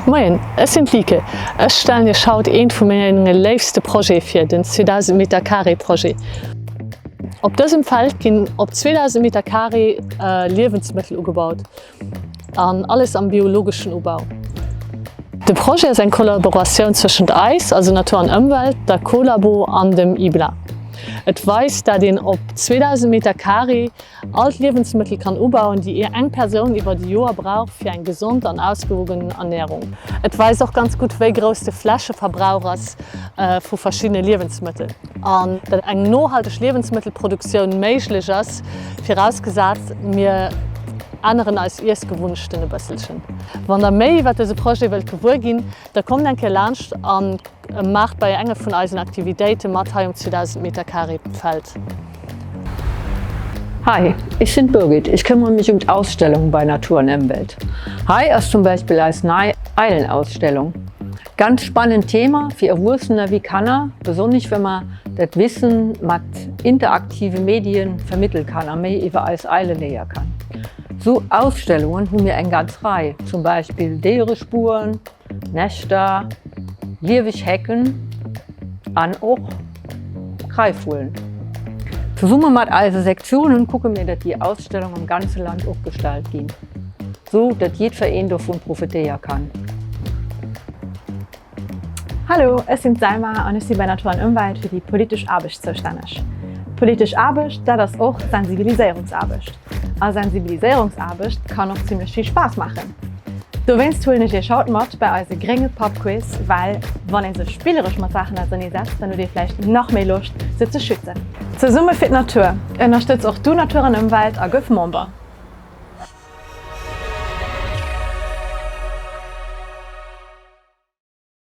Moien, ech sinn d'Lieke. Ech stellen iech haut een vu menge léifste Projete vir, den 2000 Meter Carré Projet. Op dësem Feld ginn op 2000 Meter Carré Liewensmëttel ugebaut an alles am biologeschen Ubau. De Projet ass eng Kollaboratioun zwëschent eis, also Natur an Ëmwelt, der Colabo an dem IBLA. Et weist dat een op 2000 Meter Carré, All d'Liewensmëttel kann ubauen, déi ee eng Persoun iwwert e Joer brauch fir eng gesond an ausgewogen Ernährung. Et weist och ganz gutt wéi grouss de Flächeverbrauch ass vu verschiddene Liewensmëttel an datt eng nohalteg Liewensmëttelproduktioun méiglech ass, virausgesat mir änneren eis Iessgewunnegten e bësselchen. Wann der méi iwwert dëse Projet wëllt gewuer ginn, da kommt eng Kéier laanscht a E maacht bei enge vun eisen Aktivitéite mat hei um 2000 Meter Carré Feld. Hi, ech sinn d'Birgit, ech këmmere mech em d'Ausstellung bei Natur an Ëmwelt. Hei ass zum Beispill eis nei Eilenausstellung. Ganz spannend Thema fir Erwuessener ewéi Kanner, besonnesch wa mer dat Wissen mat interaktive Medien vermittele kann a méi iwwer eis Eile léiere kann. Sou Ausstellungen hu mir eng ganz Rei, zum Beispill Déierespuren, Näschter, lieweg Hecken an och Greifvullen. Zesumme mat eise Sektionen kucke mir dat déi Ausstellung am ganze Land opgestallt ginn, sou dat jiddfer een dovun profetéier kann. Hallo, ech sinn d'Selma an ech si bei Natur an Ëmwelt fir déi politesch Aarbecht zoustänneg. Politesch Aarbecht, dat ass och Sensibiliséierungsaarbecht. A Sensibiliséierungsaarbecht kann och zimlech vill Spaass maachen. Dowéinst huelen ech iech haut mat bei eise grénge Pubquiz, well wann ee sech spilleresch mat Saachen ausernee setzt, dann huet ee vläicht nach méi Loscht se ze schützen. Zesumme fir d'Natur! Ënnerstëtz och du Natur an Ëmwelt a gëff Member!